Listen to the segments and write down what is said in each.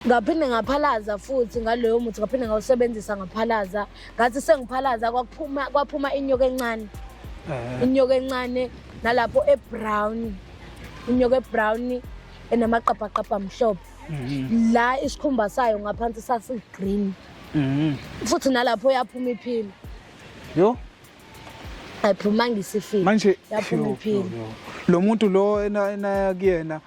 ngaphinde ngaphalaza futhi ngaloyo muthi ngaphinde ngawusebenzisa ngaphalaza ngathi sengiphalaza kwaphuma kwaphuma inyoka encane eh. inyoka encane nalapho ebrown inyoka ebrown enamaqabhaqabha amhlophe mhm. la isikhumba sayo ngaphansi sasigreen mhm. futhi nalapho yaphuma iphila yo ayiphumanga isifile manje yaphuma iphila lo muntu lo enaya kuyena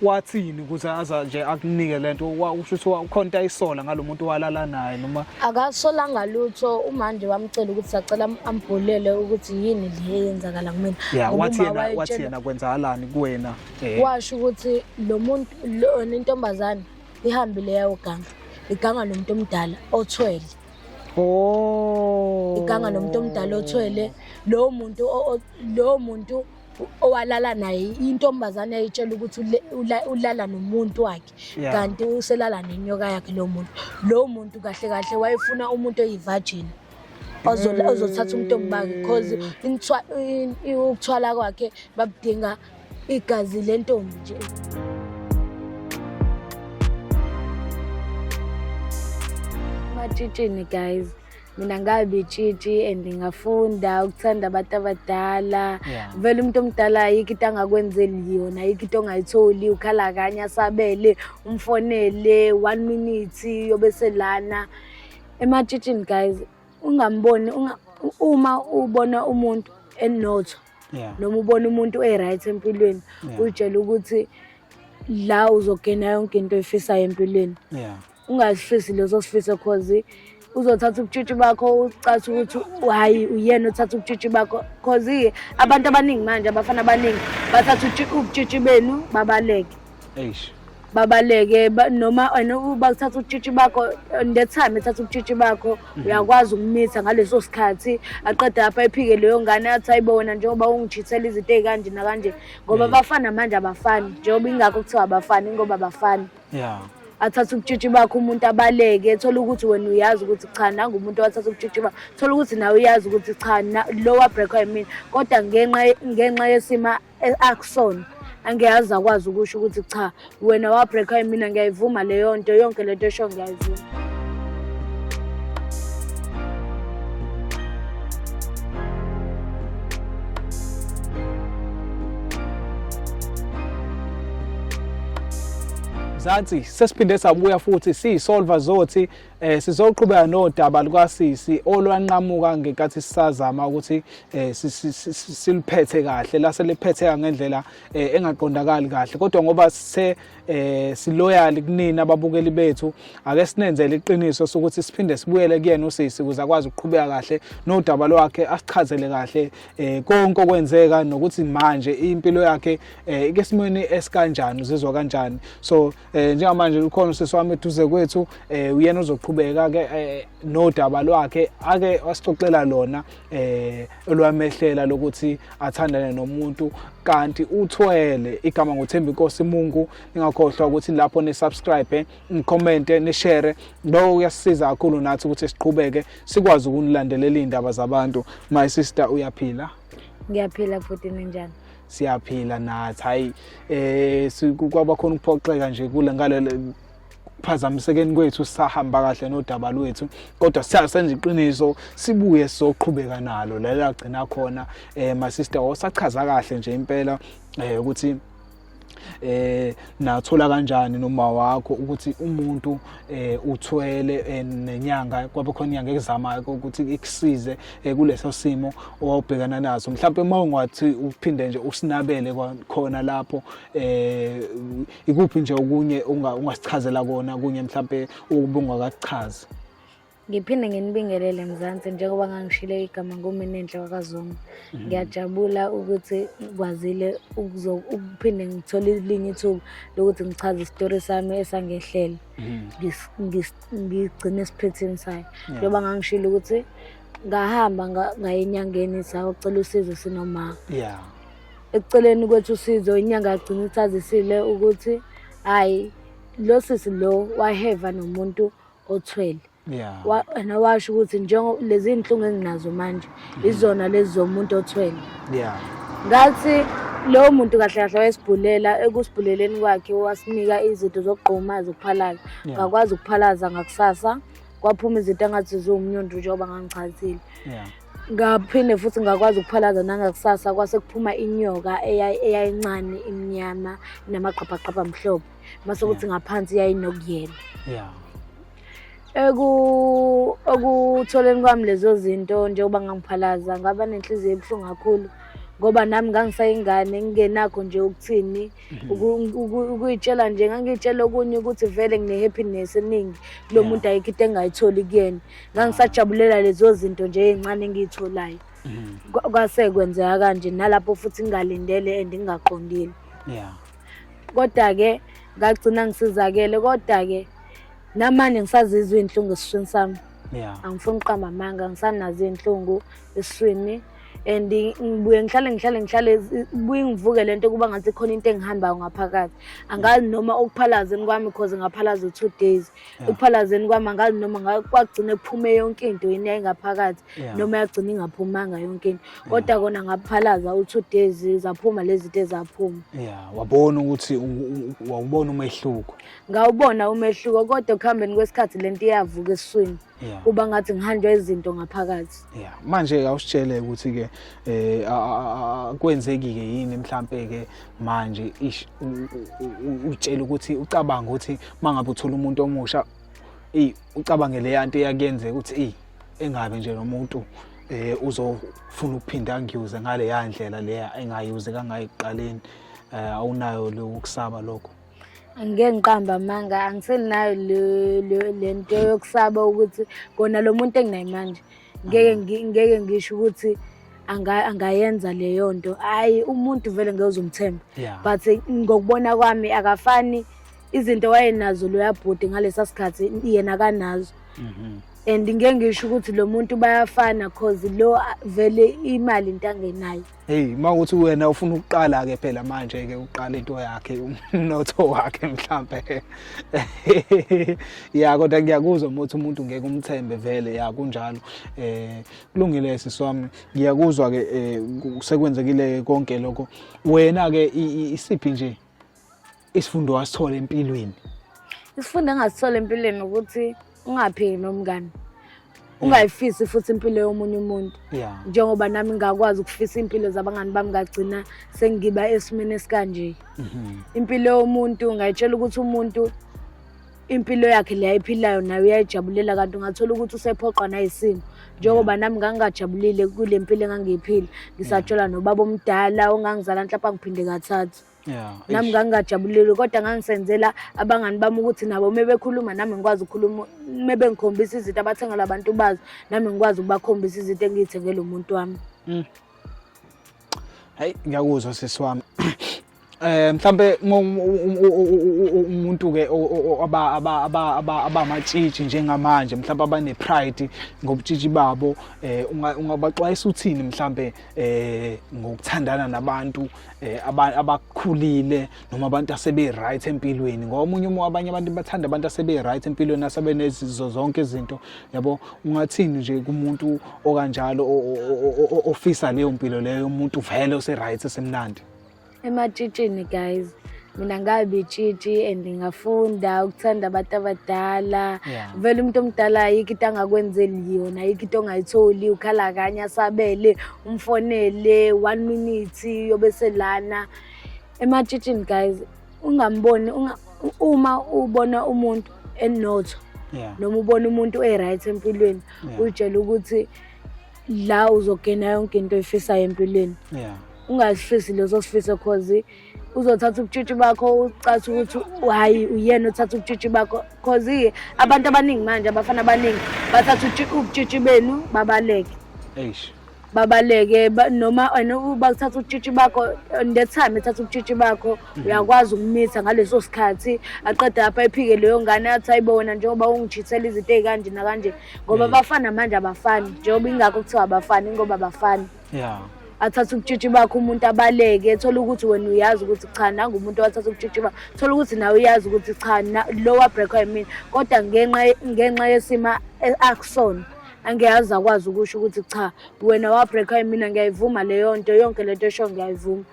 wathini ukuthi aza nje akunike lento usho ukuthi ukhonta ayisola ngalomuntu walala naye noma akasolanga lutho umanje wamcela ukuthi sacela ambholele ukuthi yini le yenzakala kumina yeah wathi yena wathi yena kwenzakalani kuwena eh. washo ukuthi lo muntu lona intombazane ihambile yayo ganga iganga nomuntu omdala othwele oh iganga nomuntu omdala othwele lowo muntu lowo muntu owalala naye intombazane yayitshela ukuthi ulala nomuntu wakhe kanti uselala nenyoka yakhe lo muntu lo muntu kahle kahle wayefuna umuntu oyivirgin ozothatha umntombi bakhe because ukuthwala kwakhe babudinga igazi lentombi nje matshitshini guys mina ngabe itshitshi and ngafunda ukuthanda abantu abadala yeah. vele umuntu omdala ayikho into angakwenzeli yona ayikho into ongayitholi ukhala kanye asabele umfonele one minute yobe selana ematshitshini guys ungamboni unga, uma ubona umuntu enotho yeah. noma ubona umuntu e-right empilweni yeah. uyitshela ukuthi la uzogena yonke into efisayo empilweni yeah. ungazifisi lezo sifiso cause uzothatha ubutshitshi bakho ucathi ukuthi hayi uyena othatha ubutshitshi bakho cause abantu abaningi manje abafana abaningi bathatha ubutshitshi benu babaleke eish babaleke noma wena bakuthatha utshitshi bakho the time ethatha utshitshi bakho mhm. uyakwazi ukumitha ngaleso sikhathi aqeda apha ephike leyo ngane athi ayibo wena njengoba ungijithela izinto ey'kanje nakanje ngoba abafana manje abafani njengoba ingakho kuthiwa abafani ingoba abafani yeah athatha ubutshitshi bakho umuntu abaleke thola ukuthi wena uyazi ukuthi cha nangu umuntu owathatha ubutshitshi bakho thola ukuthi nawe uyazi ukuthi cha lowa break yimina kodwa ngenxa ngenxa yesima e-, akusona angiyazi akwazi ukusho ukuthi cha wena wabreakwa yimina ngiyayivuma leyo nto yonke lento esho ngiyayivuma Mzansi sesiphinde sabuya futhi siyisolver zothi eh sizoqhubeka nodaba lukasisi olwanqamuka ngenkathi sisazama ukuthi eh siliphethe kahle lase liphetheka ngendlela eh, engaqondakali kahle kodwa ngoba se eh siloyal kunina ababukeli bethu ake sinenzele iqiniso sokuthi siphinde sibuyele kuyena usisi ukuze akwazi ukuqhubeka kahle nodaba lwakhe asichazele kahle eh konke okwenzeka nokuthi manje impilo yakhe eh ikesimweni esikanjani uzizwa kanjani so eh njengamanje ukhona usisi wami eduze kwethu eh uyena uzoqhubeka ke eh, nodaba lwakhe ake wasixoxela lona eh olwamehlela lokuthi athandane nomuntu kanti uthwele igama ngothembi inkosi mungu ningakhohlwa ukuthi lapho ni subscribe nikhomente nishere lokho kuyasisiza kakhulu nathi ukuthi siqhubeke sikwazi ukunilandelela iy'ndaba zabantu my sister uyaphila ngiyaphila futhi ninjani siyaphila nathi hayi eh kwaba khona ukuphoxeka nje kule ngalelo phazamisekeni kwethu sahamba kahle nodaba lwethu kodwa siyasenza iqiniso sibuye soqhubeka nalo lelo agcina khona eh my sister osachaza kahle nje impela eh ukuthi eh nathola kanjani noma wakho ukuthi umuntu eh uthwele eh, nenyanga kwabe khona inyanga ekuzamayo ukuthi ikusize eh, kuleso simo owabhekana naso mhlawumbe uma ungathi uphinde nje usinabele khona lapho eh ikuphi nje okunye ungasichazela kona kunye mhlawumbe ubungakachazi Ngiphinde nginibingelele Mzansi njengoba ngangishilo igama nguMinenhle wakaZuma. Mhm. Ngiyajabula ukuthi ngikwazile ukuphinde ngithole elinye ithuba lokuthi ngichaze isitori sami esangehlele. Mhm. Ngigcine esiphethini sayo. Njengoba ngangishilo ukuthi ngahamba ngaye enyangeni sawucela usizo sinoma. Yeah. Ekuceleni kwethu usizo inyanga yagcina ithazisile ukuthi hayi lo sisi lo waheva nomuntu othwele yeah. wena washo ukuthi njengo lezi inhlungu enginazo manje mm. izona lezi zomuntu othwele yeah. ngathi lowo muntu kahle kahle wayesibhulela ekusibhuleleni kwakhe wasinika izinto zokugquma zokuphalaza ngakwazi yeah. ukuphalaza ngakusasa kwaphuma izinto engathi ziwumnyundu njengoba ngangichazile yeah. ngaphinde futhi ngakwazi ukuphalaza nangakusasa kwase kuphuma inyoka eyayincane imnyama namaqhabhaqhabha mhlophe mase ukuthi ngaphansi yayinokuyena yeah eku okutholeni kwami lezo zinto njengoba ngangiphalaza ngaba nenhliziyo ebuhlungu kakhulu ngoba nami ngangisayingane ngingenakho nje ukuthini mhm. ukuyitshela nje ngangiyitshela okunye ukuthi vele ngine-happiness eningi kulo muntu ayikho into engayitholi kuyena ngangisajabulela lezo zinto nje ey'ncane engiyitholayo mhm. kwase kwenzeka kanje nalapho futhi ngingalindele and ngingaqondile Kodwa-ke ngagcina ngisizakele kodwa-ke namanje ngisazizwa iy'nhlungu esishini sami yeah. angifuni uqamba amanga ngisanazo iy'nhlungu esiswini and ngibuye ngihlale ngihlale ngihlale buye ngivuke lento kuba ngathi khona into engihambayo ngaphakathi angazi noma ukuphalaza kwami cause ngaphalaza two days ukuphalazeni kwami angazi noma kwagcine kuphume yonke into yini yayingaphakathi noma yagcina ingaphumanga yonke into kodwa kona ngaphalaza u-two days zaphuma lezi zinto ezaphuma ya wabona ukuthi wawubona umehluko ngawubona umehluko kodwa ekuhambeni kwesikhathi le nto iyavuka esiswini yeah. kuba ngathi ngihanjwa izinto ngaphakathi yeah. manje awusitshele ukuthi-ke eh, kwenzeki-ke yini mhlampe-ke manje ish utshele ukuthi ucabanga ukuthi uma ngabe uthola umuntu omusha eyi ucabange leya nto eyakuyenzeka ukuthi eyi engabe nje nomuntu um eh, uzofuna ukuphinde angiyuze ngaleya ndlela leya engayuze kangayo ekuqaleni um awunayo lokusaba lokho angike ngiqamba amanga angisenayo le nto yokusaba ukuthi kona lo muntu enginaye manje ngeke ngeke ngisho ukuthi angayenza leyo nto hhayi umuntu vele ngeke uzumthemba but ngokubona kwami akafani izinto wayenazo loya bhuti ngalesa sikhathi yena kanazo mhm. and ngeke ngisho ukuthi lo muntu bayafana cause lo vele imali into angenayo Hey uma ukuthi wena ufuna ukuqala ke phela manje ke uqala into yakhe umnotho wakhe mhlambe. Ya kodwa ngiyakuzwa ukuthi umuntu ngeke umthembe vele ya kunjalo. Eh kulungile siswami ngiyakuzwa ke eh, sekwenzekile konke lokho. Wena ke isiphi nje isifundo wasithola empilweni isifundo engasithola empilweni ukuthi ungaphiki nomngane ungayifisi futhi impilo yomunye umuntu njengoba nami ngakwazi ukufisa impilo zabangani bami ngagcina sengiba esimeni esikanje mhm. impilo yomuntu ngayitshela ukuthi umuntu impilo yakhe le ayiphilayo nayo uyayijabulela kanti ungathola ukuthi usephoqwa nayisimo njengoba mm. nami ngangingajabulile kule mpilo engangiyiphila ngisatshelwa nobaba omdala ongangizala nhlapha ngiphinde kathathu Yeah, nami ngangingajabulile kodwa ngangisenzela abangani bami ukuthi nabo uma bekhuluma nami ngikwazi ukukhuluma uma bengikhombisa izinto abathengela abantu bazo nami ngikwazi ukubakhombisa izinto engiyithengele umuntu wami mm. hayi ngiyakuzwa sisi wami eh mhlambe umuntu ke aba aba aba abamatshitshi njengamanje mhlambe abane pride ngobutshitshi babo eh ungabaxwayisa uthini mhlambe eh ngokuthandana nabantu eh abakhulile noma abantu asebe right empilweni ngoba omunye umuntu abanye abantu bathanda abantu asebe right empilweni asabe nezizo zonke izinto yabo ungathini nje kumuntu okanjalo ofisa leyo mpilo leyo umuntu vele ose right esemnandi ematshitshini guys mina ngabe tshitshi and ngafunda ukuthanda abantu abadala yeah. vele umuntu omdala ayikho into angakwenzeli yona ayikho into ongayitholi ukhala kanye asabele umfonele one minute yobe selana ematshitshini guys ungamboni unga, uma ubona umuntu enotho yeah. noma ubona umuntu e-right empilweni yeah. uyitshela ukuthi la uzogena yonke into oyifisayo empilweni yeah. ungazifisi leso sifiso cause uzothatha ubutshitshi bakho ucathi ukuthi hayi uyena othatha ubutshitshi bakho cause abantu abaningi manje abafana abaningi bathatha ubutshitshi benu babaleke eish babaleke noma wena bakuthatha ubutshitshi bakho in that time ethatha ubutshitshi bakho mhm. uyakwazi ukumitha ngaleso sikhathi aqeda apha ephike leyo ngane athi hayibo wena njengoba ungijithela izinto ey'kanje nakanje ngoba abafana manje abafani njengoba ingakho kuthiwa abafani ingoba abafani yeah athatha ubutshitshi bakho umuntu abaleke ethola ukuthi wena uyazi ukuthi cha nangu umuntu owathatha ubutshitshi bakho thola ukuthi nawe uyazi ukuthi cha lowa breakwa yimina kodwa ngenxa ngenxa yesima e-, akusona angiyazi akwazi ukusho ukuthi cha wena wabreakwa yimina ngiyayivuma leyo nto yonke lento esho ngiyayivuma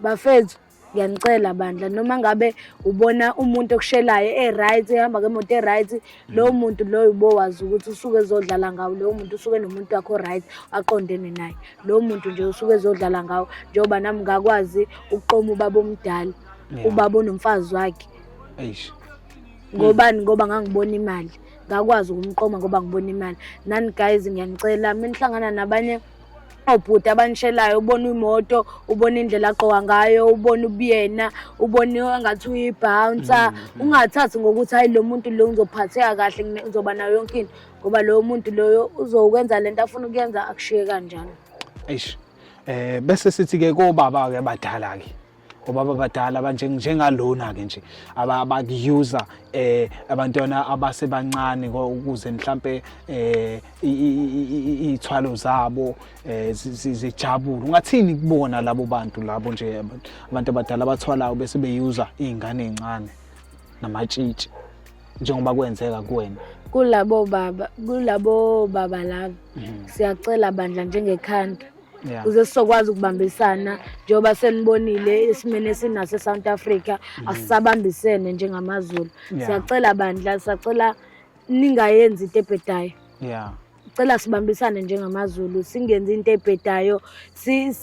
bafethu ngiyanicela bandla noma ngabe ubona umuntu okushelayo e-right ehamba ngemoto e-right mm. lowo muntu loyo ubowazi ukuthi usuke ezodlala ngawo lowo muntu usuke nomuntu wakho right aqondene naye lowo muntu nje usuke ezodlala ngawo njengoba nami ngakwazi ukuqoma ubaba omdala ubaba onomfazi wakhe ngobani ngoba ngangibona imali ngakwazi ukumqoma ngoba ngibona imali nani guys ngiyanicela menihlangana nabanye obhuti abanishelayo ubona imoto ubona indlela agqoka ngayo ubona ubuyena ubona engathi uyibhounsa mm, mm. ungathathi ngokuthi hayi lo muntu lo ngizophatheka kahle ngizoba nayo yonke into ngoba loyo muntu loyo uzokwenza le nto afuna ukuyenza akushiye kanjalo eish um bese sithi-ke kobaba-ke badala-ke obaba abadala abanje njengalona ke nje abakuyuza eh abantwana abasebancane ukuze mhlambe eh ithwalo zabo eh, zijabule ungathini kubona labo bantu labo nje abantu abadala abathwalayo bese beyuza izingane ezincane namatshitshi njengoba kwenzeka kuwena kulabo baba kulabo baba labo mhm. siyacela bandla njengekhanda Yeah. kuze sizokwazi ukubambisana njengoba senibonile esimeni esinaso e-south africa mm. asisabambisene njengamazulu yeah. siyacela bandla siyacela ningayenzi into ebhedayo yeah cela sibambisane njengamazulu singenzi into ebhedayo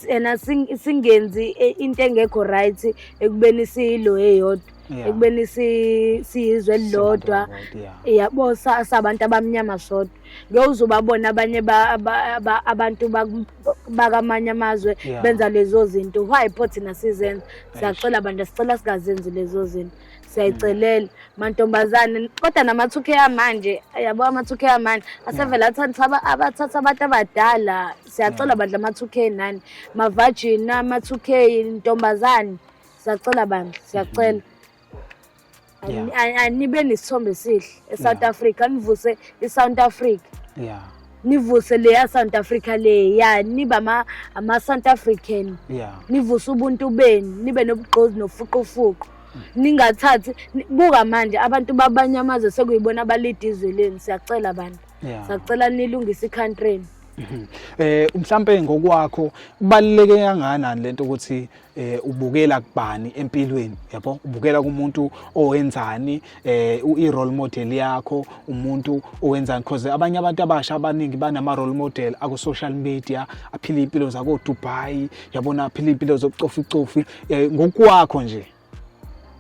ena singenzi e, into engekho right ekubeni siyilo eyodwa ekubeni siyizwe elilodwa yabo sabantu abamnyama sodwa bewuzobabona abanye abantu bakamanye amazwe benza lezo zinto why pho thina sizenza siyacela bandla sicela singazenzi lezo zinto siyayicelela mantombazane kodwa namathuke amanje yabo amathuke amanje asevele athatha abathatha abantu abadala siyacela bandla amathuke nani mavajini amathuke intombazane siyacela bandla siyacela Yeah. Ani- ani- anibe nesithombe esihle esouth Yeah. africa nivuse isouth africa yeah nivuse leya south africa leya nibe ama- ama-south african yeah nivuse ubuntu benu nibe nobugqozi nofuqufuqu ningathathi ni- buka manje abantu babanye amazwe sekuyibona abalida izwe lenu siyacela bantu yeah siyacela nilungise ikhantrini Mhm. eh mhlambe ngokwakho kubaluleke kangakanani lento ukuthi eh ubukela kubani empilweni yabo ubukela kumuntu owenzani eh i role model yakho umuntu owenzani because abanye abantu abasha abaningi banama role model aku social media aphila impilo zako Dubai yabona aphila impilo zokucofa icofi eh, ngokwakho nje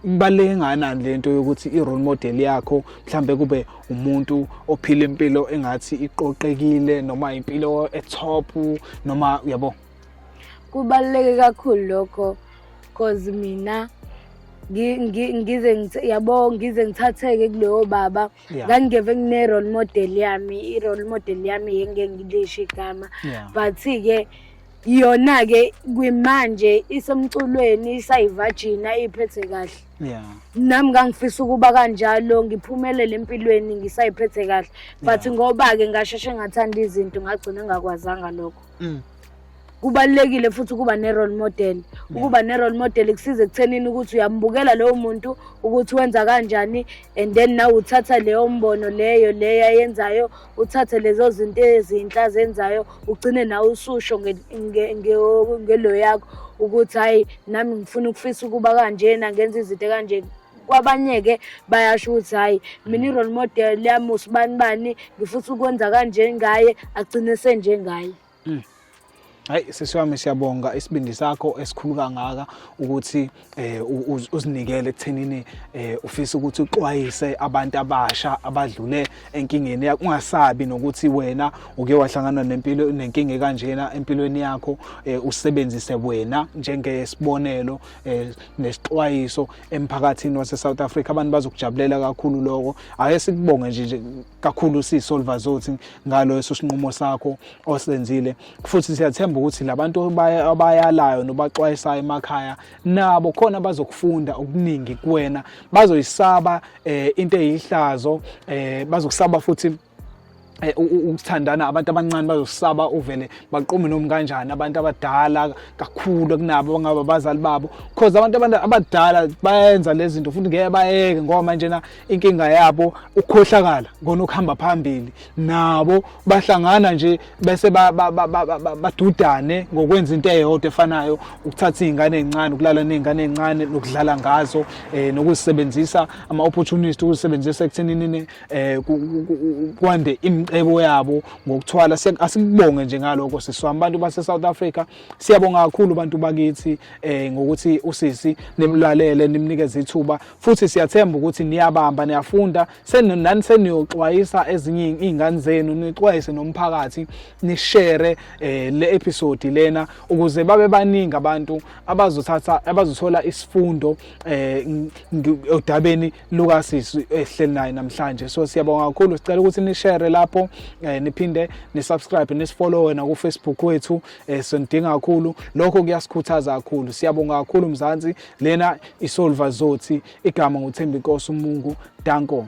kubaluleke nganani lento yokuthi i role model yakho mhlambe kube umuntu ophila impilo engathi iqoqekile noma impilo e top noma yabo kubaluleke kakhulu lokho cause mina ngize yabo ngize ngithatheke kulowo baba ngangingeve ngine-role model yami i-role model yami yenge ngilisho igama but-ke yona-ke kwimanje isemculweni isayivajina iphethe kahle yeah nami ngangifisa ukuba kanjalo ngiphumelele empilweni ngisayiphethe kahle but ngoba ke ngasheshe ngathanda izinto ngagcina ngakwazanga lokho mm. kubalulekile futhi ukuba ne-role model mm. ukuba ne-role model kusiza ekuthenini ukuthi uyambukela lowo muntu ukuthi wenza kanjani and then nawe uthatha leyo mbono leyo leyo ayenzayo uthathe lezo zinto ezinhle azenzayo ugcine nawe ususho ngelo yakho ukuthi hhayi nami ngifuna ukufisa ukuba kanjena ngenza izinto kanjena kwabanye-ke bayasho ukuthi hhayi mina i-role model yami usibani bani ngifutha ukwenza kanje ngaye agcine senjengaye mm. hayi sisi wami siyabonga isibindi sakho esikhulu kangaka ukuthi eh, uzinikele ekuthenini eh, ufisa ukuthi uxwayise abantu abasha abadlule enkingeni yakho ungasabi nokuthi wena uke wahlangana nempilo nenkinga kanjena empilweni yakho eh, usebenzise wena njengesibonelo eh, nesixwayiso emphakathini wase South Africa abantu bazokujabulela kakhulu lokho ake sikubonge nje kakhulu si Solver Zothi ngalo esosinqumo sakho osenzile futhi siyathemba ukuthi labantu abayalayo nobaxwayisayo emakhaya nabo khona bazokufunda okuningi kuwena bazoyisaba eh, into eyihlazo eh, bazokusaba futhi Eh, ukuthandana abantu abancane bazosaba uvele baqume nomu kanjani abantu abadala kakhulu kunabo bangaba abazali babo cause abantu abadala bayenza lezi zinto futhi ngeke bayeke ngoba manje na inkinga yabo ukukhohlakala ngona ukuhamba phambili nabo bahlangana nje bese badudane ngokwenza into eyodwa efanayo ukuthatha izingane ezincane ukulala nezingane ezincane nokudlala ngazo eh nokuzisebenzisa ama opportunity ukuzisebenzisa ekuthenini eh kwande imcebo yabo ngokuthwala asikubonge nje ngaloko sisi wami abantu base South Africa siyabonga kakhulu abantu bakithi eh ngokuthi usisi nimlalele nimnikeze ithuba futhi siyathemba ukuthi niyabamba niyafunda senani seniyoxwayisa ezinye izingane zenu nixwayise nomphakathi nishare eh le episode lena ukuze babe baningi abantu abazothatha abazothola isifundo eh odabeni Lucas esihleli naye namhlanje so siyabonga kakhulu sicela ukuthi ni share lapho eh, niphinde ni subscribe ni follow na ku Facebook wethu eh, sonidinga kakhulu lokho kuyasikhuthaza kakhulu siyabonga kakhulu mzansi lena isolva zothi igama nguthembi inkosi umungu danko